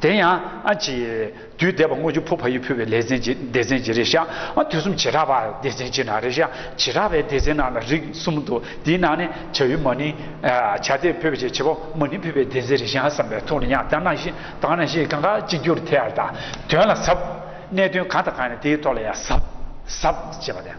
དེ་ཡང་ཨ་ཅེ། དུས་འདས་པ་སྔོན་བྱུང་ཕོ་བ་ཡིས་ཕུལ་བའི་ལས་ཟན་གྱི་སྡེ་ཚན་གྱི་རེ་བཞག་དུས་གསུམ་བྱེ་བྲག་པར་སྡེ་ཚན་གྱི་ནང་རེ་བཞག་བྱེ་བྲག་པའི་སྡེ་ཚན་ནང་ལ་རིགས་གསུམ་འདུ་དེའི་ནང་ནས་བྱ་ཡུལ་མ་ནི། བྱ་སྡེ་ཕུལ་བའི་ཆེད་བྱེད་པོ་མ་ནི་ཕུལ་བའི་སྡེ་ཚན་རེ་བཞག་བསམ་པའི་ཐུགས་ལ་ཉག་གཏམ་ནང་བཞིན་དག་ན་ཞེས་གང་ག་གཅིག་གྱུར་དེ་ཡར་དག་དོན་ལ་ཟབ། གནད་དོན་གང་དང་གང་ཡིན་དེའི་ཐོག་ལ་ཡང་ཟབ། ཟབ། ཅེས་པ་དང།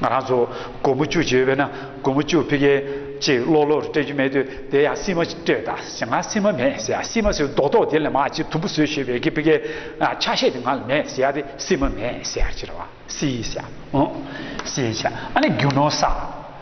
ང་རང་ཚོ་སྒོར་མོ་བཅུ་བྱེད་འོས་པས་ན་སྒོར་མོ་བཅུ་ཕིག་གེ་གཅིག་ཀློག་ཀློག་སྤྲད་རྒྱུ་མེད་དུས་དེ་ཡང་སིལ་མ་སྤྲད་ད་ཟེར་ང་སིལ་མ་མེད་ཟེར་སིལ་མ་ཟེར་རྡོག་རྡོག་དེ་ལས་མ་གཅིག་དུམ་བུ་བཟོས་ཞེས་བས་ཀི་ཕིག་གེ་ཆ་ཤས་དེ་ང་ལ་མེད་ཟེར་དེ་སིལ་མ་མེད་ཟེར་ཅི་རེད་བ་སིལ་ཤ་ཨོ་སིལ་ཤ་ཨ་ནི་རྒྱུ་ནོར་ས།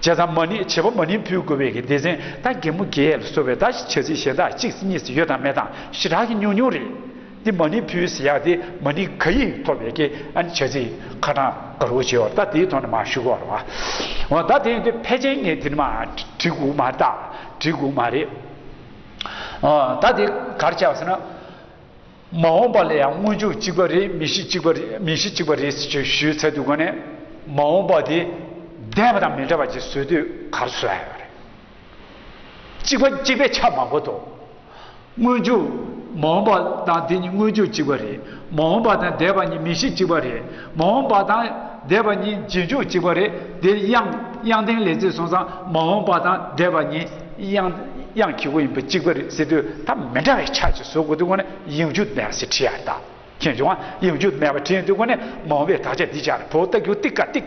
བྱས་ཙང་མ་ཎི་བྱེད་པོ་མ་ཎི་འཕུལ་དགོས་པའི་གི་སྡེ་ཟན་ད་རྒན་མོ་རྒྱལ་ཡས་ལ་གསོལ་བའི་ད་ཞིག་བྱ་ཚིག་གཞན་དག་གཅིག་ཚིག་གཉིས་ཚིག་ཡོད་དང་མེད་དང་ཞི་དྲག་གི་ཉུང་ཉུང་རེད། འདི་མ་ཎི་འཕུལ་ཟེར་ཡག་དེ་མ་ཎི་ག་ཡིག་ཐོབ་པའི་གི་ཨ་ནི་བྱ་ཚིག་ཁ་དྲང་ག་རུ་བྱས་བར་ད་དེའི་ཐོག་ནས་མ་ཞུ་གོ་རོགས། འོ་ད་དེ་འདི་ཕལ་ཆེན་ངས་དེ་ནི་མ་བྲིས་གུག་མ་རེད་ད་བྲིས་གུག་མ་རེད། འོ་ད་དེ་ག་རེ་བྱས་པ་ཟེར་ན། མ་འོངས་པ་ལ་ཡང་དངོས་ཕྱོགས་གཅིག་པ་རེད་མི་གཤིས་གཅིག་པ་རེད་མི་གཤིས་གཅིག་པ་རེད་ཟེར་ཆོག་ཞུས་ཚད་དུ་གོ་ནས་མ་འོངས་པ་དེ་འདས་པ་དང་མི་འདྲ་བ་ཅིག་བཟོས་དུས་གར་སོས་ཡོད་རེད། གཅིག་པ་གཅིག་པའི་ཆ་མ་གོ་ཏོ། དངོས་ཕྱོགས་མ་འོངས་པ་དང་དེ་གཉིས་དངོས་ཕྱོགས་གཅིག་པ་རེད་མ་འོངས་པ་དང་འདས་པ་གཉིས་མི་གཤིས་གཅིག་པ་རེད། མ་འོངས་པ་དང་འདས་པ་གཉིས་རྗེས་འཇུག་གཅིག་པ་རེད་དེ། དབྱངས་ལྡན་ལས་ཚིག་སོང་ཙང་མ་འོངས་པ་དང་འདས་པ་གཉིས་དབྱངས་ཁྱི་གུ་ཡིན་པ་གཅིག་པ་རེད་ཟེར་དུས་ད་མི་འདྲ་བའི་ཆ་གཅིག་བཟོ་དགོས་དུས་ཁོ་ནས་དབྱིངས་རྒྱུ་མེད་པ་ཞིག་བྲིས་ཡ་ད་མཁྱེན་བྱུང་ཨ་དབྱིངས་རྒྱུ་མེད་པ་བྲིས་ཡོད་དུས་ཁོ་ནས་མ་འོངས་པའི་དག་ཆ་འདི་ཅར་བོ་ལྟ་རྒྱུ་ཏིག་ཀ་ཏིག།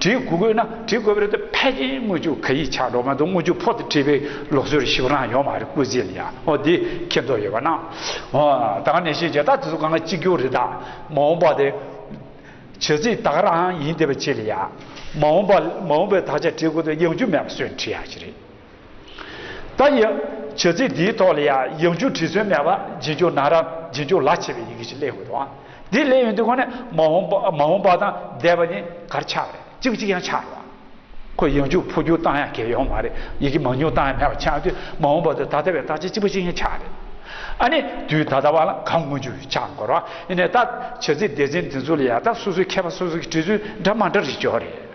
བྲིས་སྐུ་བཀོད་ན་བྲིས་བཀོད་པའི་རི་དེ་ཕལ་ཆེར་དངུལ་ཆུ་ག་ཡིས་ཆགས་འགྲོ་མ་འདུག་དངུལ་ཆུ་ཕོག་སྟེ་བྲིས་པའི་ལོག་སྲོལ་ཞིག་རང་ཡོད་མ་རེད་སྐུ་ཚེ་ལ་ཡང་འོ་དེ་ཁྱེད་ཚོ་ཡོད་པ་ན་འོ་ད་ག་ནས་ཤེས་བྱས་ད་དེ་ཚོ་གང་གཅིག་གྱུར་རེད་ད་མ་འོངས་པ་དེ་བྱེད་རྩིས་དག་རང་ཡིན་དེ་བྱེད་ལ་ཡ་མ་འོངས་པ་མ་འོངས་པའི་དག་ཆ་བྲིས་སྐུ་དེ་ཡང་རྒྱུ་མེད་པ་སོན་བྲིས་ཡག་ཞིག་རེད། ད་ཡིག་བྱེད་རྩིས་འདིའི་ཐོག་ལ་ཡང་ཡིག་འཇུག་བྲིས་སྲོལ་མེད་པར་རྗེས་འཇུག་ནང་རམ་རྗེས་འཇུག་ལག་བྱེད་པའི་ཡི་གེ་ཞིག་གླེང་དགོས་འདུག་ཨང་འདི་གླེང་ཡོང་དུས་ཁོ་ནི་མ་འོངས་པ་དང་འདས་པ་ནི་གར་ཆག་རེད་ཅིག་ཅིག་ཡང་ཆག་རུང་ཁོས་ཡིག་འཇུག་འཕོ་འགྱུར་བཏང་ཡང་གལ་ཡོང་མ་རེད་ཡི་གེ་མང་ཉུང་བཏང་ཡང་མེད་པ་ཆག་དུས་མ་འོངས་པ་དུས་ད་ལྟ་བའི་བརྟག་དཔྱད་ཅི་བ་ཅིག་ཡང་ཆག་རེད་ཨ་ནི་དུས་ད་ལྟ་བ་ལ་གང་མངོན་རྒྱུ་ཆག་མགོ་རུང་ཨ་ནི་ད་བྱེད་རྩིས་སྡེ་ཚན་འདི་ཚོ་ལ་ཡང་ད་སོ་སོའི་མཁས་པ་སོ་སོ་གི་བྲིས་ཚུལ་འདྲ་མ་འདྲ་རེ་འབྱོར་རེད།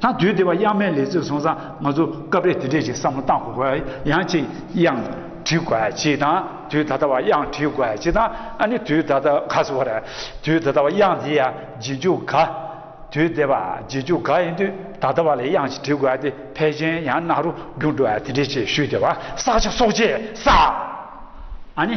ད་དུས་དེ་བ་དབྱངས་མའི་ལས་ཚིག་སོང་ཙང་ང་ཚོ་སྐབས་རེ་དེ་འདྲས་ཀྱི་བསམ་བློ་བཏང་དགོས་དགོས་དབྱངས་ཅིག་དབྱངས་བྲིས་དགོས་ཅིག་དང་དུས་ད་ལྟ་བ་དབྱངས་བྲིས་དགོས་ཅིག་དང་ཨ་ནི་དུས་ད་ལྟ་ག་ཟེར་བ་རེད་དུས་ད་ལྟ་བ་དབྱངས་དེ་ཡ་རྗེས་འཇུག་ག་དུས་དེ་བ་རྗེས་འཇུག་ག་ཡིན་དུས་ད་ལྟ་བ་ལས་དབྱངས་ཅིག་བྲིས་དགོས་དེ་ཕལ་ཆེན་ཡང་རྣ་རུ་རྒྱུགས་འགྲོ་བ་དེ་འདྲས་ཅིག་ཞུས་དེ་བ་བསགས་ཆ་སོགས་རྗེས་བསགས་ཨ་ནི།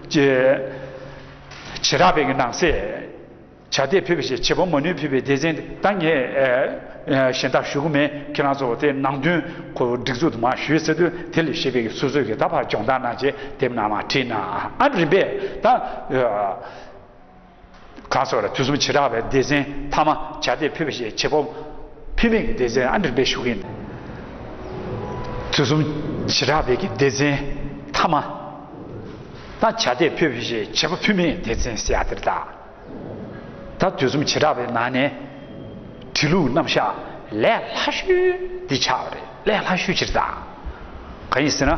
ཅེས་བྱེ་བྲག་བོད་ཀྱི་ནང་གསེས་བྱ་དེ་ཕུད་པའི་ཞེས་བྱེད་པོ་མ་ནུས་ཕུད་པའི་སྡེ་ཚན་དང་ངས་གཞན་དག་ཞུ་གི་མེད་ཁྱེད་རང་ཚོ་བོ་དེ་ནང་དོན་ཁོ་བོ་སྒྲིག་འཛུགས་དུ་མ་ཞུས་ཟེར་དུས་དེ་ལས་ཤེས་པའི་ཀྱི་སོ་སོའི་ཀྱི་ད་བར་སྦྱོང་བརྡར་གནང་རྗེས་དེབ་ནང་མ་བྲིས་ནའང་རིམ་པས་ད། གང་སོགས་ལ་དུས་གསུམ་བྱེ་བྲག་པའི་སྡེ་ཚན་མཐའ་མ་བྱ་སྡེ་ཕུད་པ་ཞེས་བྱེད་པོ་ཕུད་མེད་ཀྱི་སྡེ་ཚན་ཨ་འགྲིམ་པའི་ཤུགས་ཡིན། དུས་གསུམ་བྱེ་བྲག་པའི་ཀྱི་སྡེ་ཚན་མཐའ་མ་ན་བྱ་སྡེ་ཕུད་པ་ཞེས་བྱེད་པོ་ཕུད་མེད་སྡེ་ཚན་བསལ་ཡ་དེར་བཏགས། ད་དུས་གསུམ་བྱེ་བྲག་པའི་ནང་ནས་བྲི་ལུགས་རྣམ་གཞག་ལས་ལྷ་ཤུལ་འདི་ཆགས་པ་རེད་ལས་ལྷ་ཤུལ་ཕྱིར་བཏགས། གང་ཡིན་ཟེར་ན།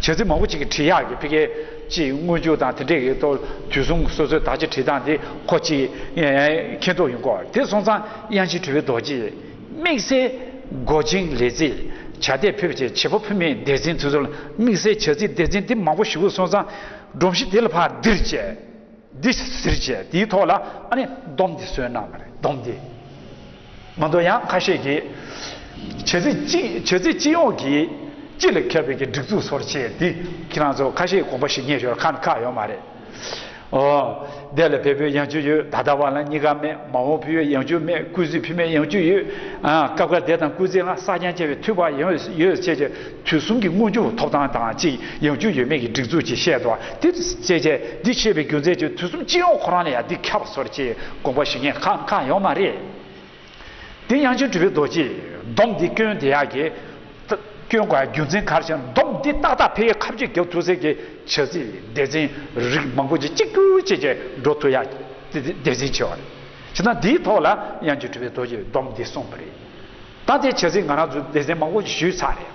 བྱེད་ཚིག་མང་པོ་གཅིག་གིས་བྲིས་ཡག་གི་ཕི་ཀའི་ཅེས་དངོས་བཅུ་དང་དེ་འདྲས་ཀྱི་ཐོག་དུས་གསུམ་སོ་སོའི་དག་ཆ་བྲིས་སྟངས་དེ་ཁོ་གཅིག་མཁྱེན་རྟོགས་ཡོད་གོ་དེ་སོང་ཙང་དབྱངས་ཅན་གྲུབ་པའི་རྡོ་རྗེས་དམིགས་བསལ་མགོ་ཅིང་ལས་ཚིག་བྱ་དད་ཕེབས་ཅེས་བྱེད་པོ་ཕུ་མེད་འདས་ཟིན་དུས་ཚོད་ལ་དམིགས་བསལ་བྱ་ཚིག་འདས་ཟིན་དེ་མང་པོ་ཞུ་གི་སོང་ཙང་སྒྲོམ་གཞི་དེ་ལ་ཕར་འདིར་བཅད་འདི་ཟིར་བཅད་དེའི་ཐོག་ལ་ཨ་ནི་སྡོམ་འདི་བསོད་ནམས་རེད་སྡོམ་འདི། ང་ཚོ་ཡང་ཁ་ཤས་ཀྱིས། བྱེད་རྩིས་སྤྱི་བྱེད་རྩིས་སྤྱི་ཡོངས་ཀྱི་སྤྱི་ལ་ཁེལ་བའི་ཀྱི་སྒྲིག་འཛུགས་སོར་ཕྱེ་འདི་ཁྱེད་རང་ཚོ་ཁ་ཤས་དགོངས་པ་ཞིག་ཉན་ཞོར་ཁ་ན་ཁག་ཡོད་མ་རེད། འོ། འདས་ལ་བལ་པོའི་ཡང་བཅུ་ཡོད་ད་ལྟ་བ་ལ་གཉིས་ཀ་མེད་མ་འོངས་ཕི་ཡོད་ཡང་བཅུ་མེད་ཀུས་ཟི་ཕི་མེད་ཡང་བཅུ་ཡོད། སྐབས་འགར་འདས་དང་ཀུས་ཟི་ལྔ་ས་ཀྱང་བཅད་པའི་དུས་བབ་ཡང་ཡོད་ཅེས་ཀྱི། དུས་གསུམ་གྱི་དངོས་རྒྱུར་ཐོབ་ཐང་དང་གཅིག་ཡང་རྒྱུ་ཡོད་མེད་ཀྱི་སྒྲིག་འཛུགས་ཀྱིས་བཤད་དོ། འདིར་བཤད་བྱའི་འདི་ཕྱེད་པའི་རྒྱུ་མཚན་གྱིས་དུས་གསུམ་སྤྱི་ཡོངས་ཁོ་རང་ལ་ཡང་འདི་ཁྱབ་སོར་ཅིག་དགོངས་པ་ཞུ་ཉེས་ཁག་འགའ་ཡོད་མ་རེད། དེ་ཡང་རྒྱུ་འབྲས་བུའི་རྡོ་རྗེ་སྡོམ་འདི་སྐྱོན་དེ་ཡག་གི། སྐྱོན་དགའི་རྒྱུ་མཚན་གར་བྱེད་སྡོམ་འདི་ཏག་ཏག་ཕལ་ཡས་ཁ་བརྗོད་རྒྱག་ཐུབ་ཟེར་གི་བྱ་ཚིག་སྡེ་ཚན་རིགས་མང་པོ་ཅིག་གཅིག་གྱུར་བྱས་རྗེས་འགྲོ་ཐུབ་ཡག་གི་དེ་འཛིན་ཆེ་བ་རེད། བྱས་ཙང་འདིའི་ཐོག་ལ་ཡང་རྒྱུ་འབྲས་བུའི་རྡོ་རྗེ་སྡོམ་འདི་གསུངས་པ་རེད། ད་དེ་བྱས་ཚེ་ང་རང་ཚོ་སྡེ་ཚན་མང་པོ་ཞིག་ཞུས་ཚར་རེད།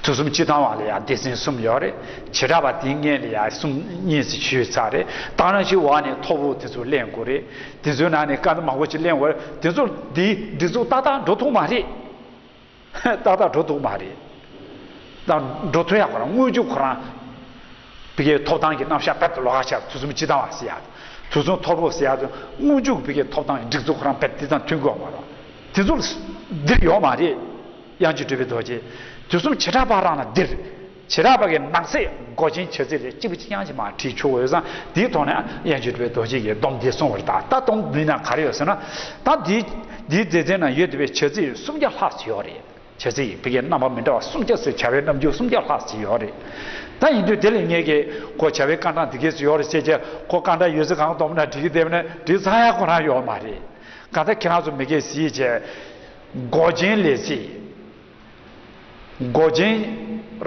དུས་གསུམ་སྤྱི་བཏང་བ་ལ་ཡང་སྡེ་ཚན་གསུམ་ཡོད་རེད། བྱེ་བྲག་པ་དེ་ལྔས་ལ་ཡང་གསུམ་གཉིས་ཟིག་ཞུས་ཚར་རེད། ད་རང་ཞིག་འོག་ནས་ཐོར་བུ་དེ་ཚོ་གླེང་དགོས་རེད། དེ་ཚོའི་ནང་ནས་སྐད་མང་པོ་ཞིག་གླེང་བར་དེ་ཚོ་འདིའི་སྒྲིག་འཛུགས་ཏག་ཏག་འགྲོ་ཐུབ་མ་རེད། ཏག་ཏག་འགྲོ་ཐུབ་མ་རེད། འགྲོ་ཐུབ་ཡག་ཁོ་རང་དངོས་བྱུང་ཁོ་རང། བི་ཀའི་ཐོབ་ཐང་གི་རྣམ་གཞག་བེད་ལོག་ཧ་ཆག་དུས་གསུམ་སྤྱི་དང་བ་སི་ཡ་དུས་གསུམ་ཐོར་བུ་སི་ཡ་དུ་དངོས་འཇུག་བི་ཀའི་ཐོབ་ཐང་གི་སྒྲིག་འཛུགས་ཁོ་རང་བེད་དེ་དང་མཐུན་དགོས་པ་མ་རོ། དེ་ཚོ་ལ་འདིར་ཡོག་མ་རེད། དབྱངས་ཀྱི་སྤྲུལ་པའི་རྡོ་རྗེ། དུས་གསུམ་བྱེ་བྲག་པ་རང་ལ་འདིར། བྱེ་བྲག་པ་གི་ནགས་ཚལ་མགོ་ཅན་བྱེ་རྩེ་ལས་གཅིག་པུ་གཅིག་དབྱངས་ཀྱི་མ་བྲིས་ཆོག་འོད་བཟང་དེའི་ཐོག་ནས་དབྱངས་ཀྱི་སྤྲུལ་པའི་རྡོ་རྗེ་ཡི་སྡོམ་འདི་སྲུང་བར་གདའ་ད་སྡོམ་འདི་ན་ག་རེ་ཡོད་ཟེར་ན། ད་འདིའི་འདིའི་མཛེས་རྩལ་ན་ཡོད་དེ་བས་བྱེ་རྩེ་ཡོད་སུམ་བརྒྱ་ལྷག་ཅིག་ཡོག་རེད། བྱས་ཚེ་ཡི་གེ་རྣམ་པ་མི་འདྲ་བ་སུམ་བརྒྱ་ཚོའི་བྱ་བའི་རྣམ་འགྱུར་སུམ་བརྒྱ་ལྷག་ཅིག་ཡོད་རེད། ད་ཡིན་དུས་དེ་ལས་ངེས་ཀྱི་ཁོ་བྱ་བའི་སྐར་གྲངས་འདི་གས་སུ་ཡོད་རེད་ཅེས་ཀྱི་ཁོ་སྐར་གྲངས་ཡོད་ཚད་གང་བསྡོམས་ན་འགྲིག་གི་དེ་བས་ན་འགྲིག་ཚར་ཡག་ཁོ་ན་ཡོད་མ་རེད། གང་ལྟར་ཁྱེད་རང་ཚོ་མི་དགེ་བཤེས་ཀྱི་མགོ་རྒྱན་ལས་ཚེ་མགོ་རྒྱན་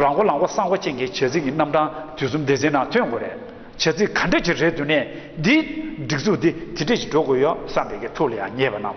རང་མགོ་ལག་མགོ་སྲང་མགོ་ཅན་གྱི་བྱས་ཚིག་གི་རྣམ་གྲངས་དུས་གསུམ་སྡེ་ཚན་ནང་ཐོན་དགོས་རེད། བྱས་ཚིག་ག་འདྲ་ཞིག་རེད་འདུག་ནས་འདིའི་སྒྲིག་འཛུགས་འདི་དེ་འདྲ་ཞིག་འགྲོ་དགོས་ཡོད་བསམ་པའི་གི་ཐུགས་ལ་ཡང་ཉེས་པ་རྣམས།